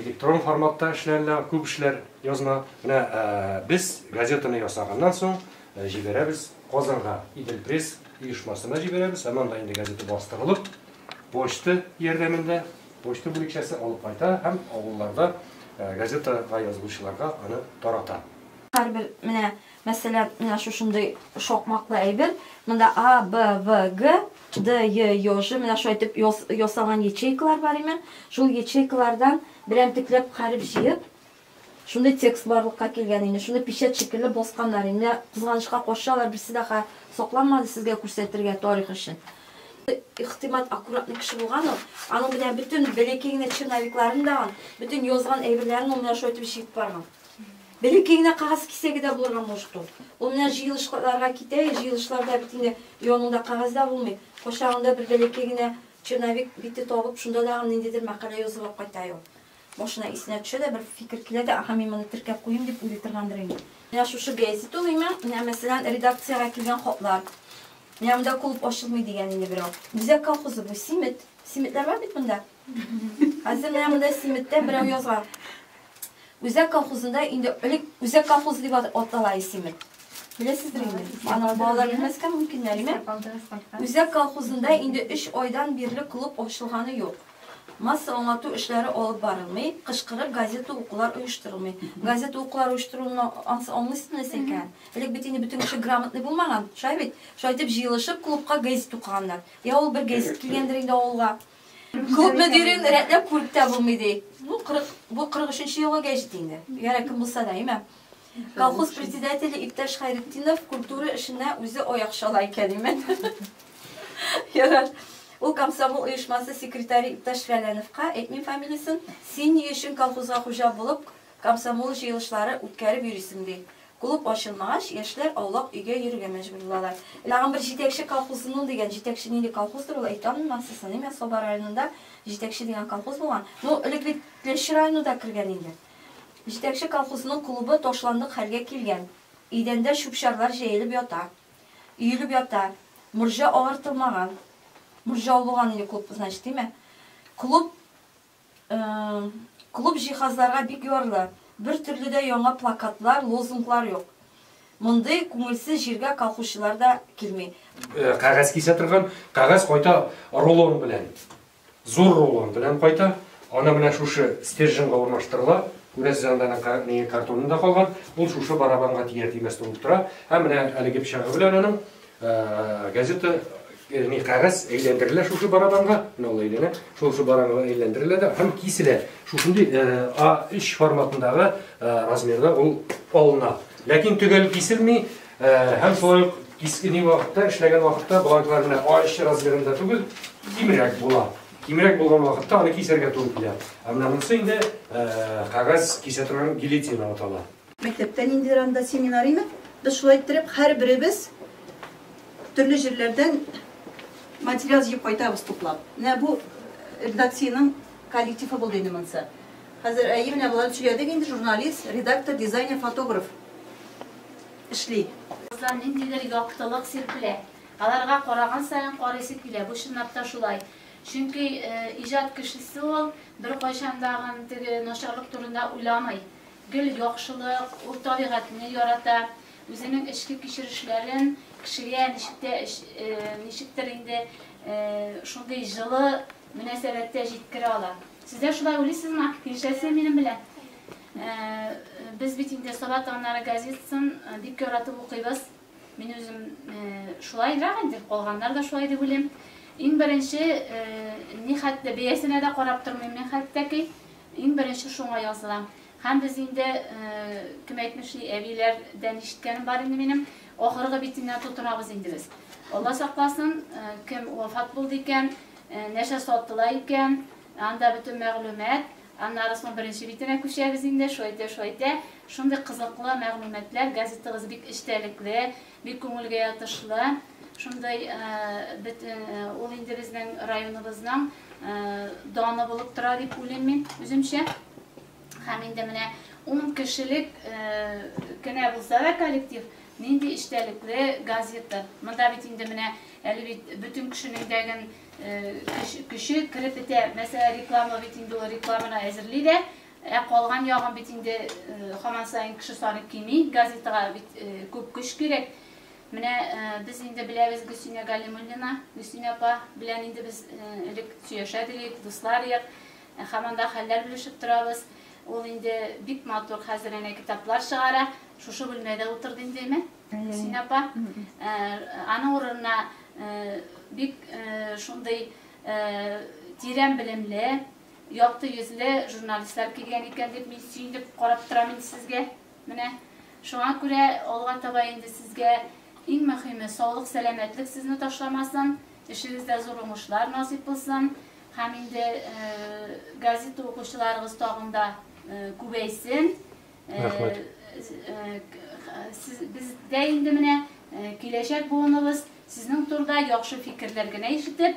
Электрон форматта эшләнелә күп эшләр, язма. Менә без газетаны ясаганнан соң җибәрәбез Казанга, Иделпресс оешмасына җибәрәбез. Һәм анда инде газета бастырылып, почта ярдәмендә почта бүлекчәсе алып кайта һәм авылларда газетага язылучыларга аны тарата. Һәрбер менә Мәсәлән, менә шушындый шакмаклы әйбер. Монда А, Б, В, Г, Д, Е, Ё, Ж менә шулай итеп ясалган ячейкалар бар имен. Шул ячейкалардан берәмтекләп хәреф җыеп, шундый текст барлыкка килгән инде. Шуны печәт шикелле басканнар инде. Кызганычка каршы, алар берсе дә сакланмады сезгә күрсәтергә тарих өчен. Ихтимат аккуратный кеше булган ул. Аның менә бөтен бәләкәй генә черновикларын да, бөтен язган әйберләрен ул менә шулай итеп җыеп барган. Бәләкәй генә кәгазь кисәге дә булырга мошт ул. Ул менә җыелышларга китә, җыелышларда бит инде яныңда кәгазь дә булмый. Кочагында бер бәләкәй генә черновик бите табып, шунда тагын ниндидер мәкалә язып алып кайта ул. Башына исенә төшә дә, бер фикер килә дә, Аһа, мин моны теркәп куйыйм, дип уйлый торгандыр инде. Менә шушы гәзит тулыймы? Менә, мәсәлән, редакциягә килгән хатлар. Менә монда клуб ачылмый, дигән инде берәү. Үзәк колхозы бу, Симет. Симетләр бар бит монда. Хәзер менә монда Симеттә берәү язган. Үзәк колхозында инде элек Үзәк колхозы дип атала Симет. Беләсездер инде. Аның балалары белмәскә мөмкин әлеме? Үзәк колхозында инде 3 айдан бирле клуб ачылганы юк. Масса аңлату эшләре алып барылмый, кышкырып газета укулар оештырылмый. Газета укулар оештырылуны аңлыйсыз нәрсә икән? Элек бит инде бөтен кеше грамотный булмаган, шулай бит? Шулай дип җыелышып клубка газет укыганнар. Я ул бер газет килгәндер инде авылга. Күпме дирен рәтләп күреп тә булмый ди. Ну, 40, бу 43-нче елга гәҗит инде. Ягъни кем булса да, имә. Колхоз председателе иптәш Хайретдинов культура эшенә үзе аяк чала икән, имә. Ярар. Ул комсомол оешмасы секретаре иптәш Фәләновка, әйтмим фамилиясен, син ни өчен колхозга хуҗа булып, комсомол җыелышлары үткәреп йөрисең, ди. Клуб ачылмагач, яшьләр аулак өйгә йөрергә мәҗбүр булалар. Тагын бер җитәкче колхоз ну дигән җитәкче нинди колхоздыр ул әйтә алмыйм сез саныйм я саба районында җитәкче дигән колхоз булган ну элек бит теләче районы да кергән инде җитәкче колхозның клубы ташландык хәлгә килгән идәндә чүп-чарлар җәелеп ята өелеп ята морҗа агартылмаган морҗа ул булган инде клуб значит димә клуб Клуб җиһазларга бик ярлы. Бер төрле дә яңа плакатлар, лозунглар юк. Мондый күңелсез җиргә колхозчылар да килми. Кәгазь кисә торган. Кәгазь кайта рулон белән. Зур рулон белән кайта. Аны менә шушы стерженьга урнаштырыла. Күрәсез, анда аның картонында калган. Ул шушы барабанга тияр-тимәс тулып тора. Һәм менә әлеге пычагы белән аның Газета не кагаз әйләндерелә шушы барабанга, менә ул әйләнә, шушы барабанга әйләндерелә дә һәм киселә. Шушындый А3 форматындагы размерда ул алына. Ләкин төгәл киселми һәм шулай ук кискен вакытта эшләгән вакытта бланклар менә А3 размерында түгел, кимрәк була. Кимрәк булган вакытта аны кисәргә туры килә. Ә менә монысы инде кагаз кисә торган гильотина атала. Мәктәптә ниндидер анда семинар име, без шулай иттереп һәрберебез төрле җирләрдән материал җыеп кайтабыз туплап. Менә бу редакциянең коллективы булды инде монысы. Хәзер әйе менә болар сөйләдек инде журналист, редактор, дизайнер, фотограф эшли. Кызлар ниндидер яктылык сирпелә. Аларга караган саен карыйсы килә. Бу чынлап та шулай. Чөнки иҗат кешесе ул беркайчан да гын теге начарлык турында уйламый. Гел яхшылык, ул табигатьне ярата, үзенең эчке кичерешләрен кешегә ничек тә ничектер инде шундый җылы мөнәсәбәттә җиткерә ала. Сез дә шулай уйлыйсызмы? Килешәсезме минем белән? Без бит инде Саба таңнары газетасын бик яратып укыйбыз. Мин үзем шулайрак инде, калганнар да шулай дип уйлыйм. Иң беренче, нихәтле бәясенә дә карап тормыйм мин хәтта ки. Иң беренче шуңа язылам. Һәм без инде, кем әйтмешли, әбиләрдән ишеткәнем бар инде минем, ахыргы битеннән тотынабыз инде без. Алла сакласын, кем вафат булды икән, нәрсә сатыла икән, анда бөтен мәгълүмат, аннары соң беренче битенә күчәбез инде, шулай итә, шулай итә, шундый кызыклы мәгълүматлар, газетагыз бик эчтәлекле. Бик күңелгә ятышлы, шундый бөтен ул инде безнең районыбызның даны булып тора дип уйлыйм мин үземчә. Һәм инде менә ун кешелек кенә булса да коллектив, нинди эчтәлекле газета. Монда бит инде менә әле бит бөтен кешенең дәген көче кереп бетә. Мәсәлән, реклама бит инде ул рекламаны әзерли дә, Ә калган ягын бит инде һаман саен кеше саны кими, газетага бит күп көч кирәк. Менә без инде беләбез Гөлсинә Галимуллина, Гөлсинә апа белән инде без элек сөяшәдек идек, дуслар идек. Һәм анда хәлләр белешеп торабыз. Ул инде бик матур хәзер әнә китаплар чыгара. Шушы бүлмәдә утырды инде әмма Гөлсинә апа. Аның урынына бик шундый тирән белемле, Якты йөзле журналистлар килгән икән дип мин сөенеп карап торам инде сезгә. Менә шуңа күрә алга таба инде сезгә иң мөхиме саулык сәламәтлек сезне ташламасын, эшегездә зур уңышлар насыйп булсын һәм инде газета укучыларыгыз тагын да күбәйсен. Рәхмәт. Бездә инде менә киләчәк буыныбыз сезнең турыда яхшы фикерләр генә ишетеп,